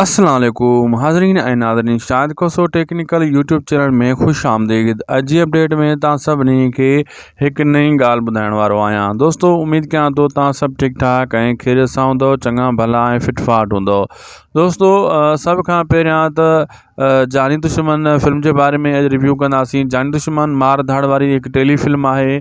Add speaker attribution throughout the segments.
Speaker 1: اسلام عليڪم حاضرين ۽ ناظرين Shahid Khoso technical YouTube channel ۾ خوش آمديد اڄ جي اپڊيٽ ۾ توهان سڀني کي هڪ نئين ڳالهه ٻڌائڻ وارو آهيان دوستو اميد ڪيان ٿو توهان سڀ ٺيڪ ٺاڪ ۽ خيريت سان هوندو چڱا ڀلا ۽ فٽ فاٽ هوندو دوستو سڀ کان پهريان ته جاني دشمن فلم جي باري ۾ اڄ ريويو ڪنداسين جاني دشمن مار ڌاڙ واري هڪ ٽيلي فلم آهي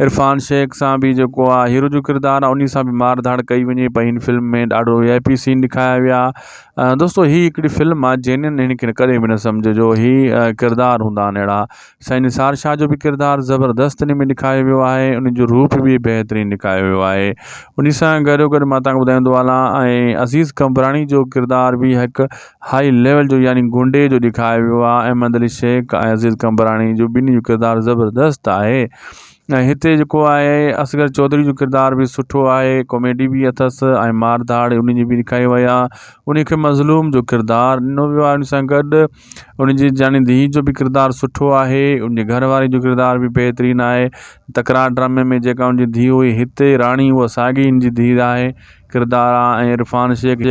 Speaker 1: عرفان شيخ سان به جيڪو آ هيرو جو ڪردار آ انهي سان به مار ڌاڙ ڪئي وڃي پئي هن فلم ۾ ڏاڍو وي آء پي سين ڏيکايا ويا دوستو هي هڪڙي فلم آ جينين هن کي ڪڏهن به نه سمجهجو هي ڪردار هوندا آهن اهڙا سائين نثار شاهه جو به ڪردار زبردست انهي ۾ ڏيکايو ويو آهي انهي جو روپ به بهترين ڏيکايو ويو آهي انهي سان گڏو گڏ مان تهان کي ٻڌائيندو هلان ۽ عزيز قمبراڻي جو ڪردار به هڪ هاء ليول جو يعني گونڊي جو ڏيکايو ويو آهي احمد علي شيخ ۽ عزيز قمبراڻي جو ٻنهي جو ڪردار زبردست آهي ۽ هتي جيڪو آهي اصغر چوڌري جو ڪردار به سٺو آهي ڪاميڊي به اٿس ۽ مار ڌاڙ ان جي به ڏيکاري وئي آهي ان کي مظلوم جو ڪردار ڏنو ويو آهي ان سان گڏ ان جي جاني ڌيء جو به ڪردار سٺو آهي ان جي گهر واري جو ڪردار به بهترين آهي تڪرار ڊرامي ۾ جيڪا ان جي ڌيء هئي هتي راڻي هو ساڳي ان جي ڌيء آهي ڪردار آهي عرفان شيخ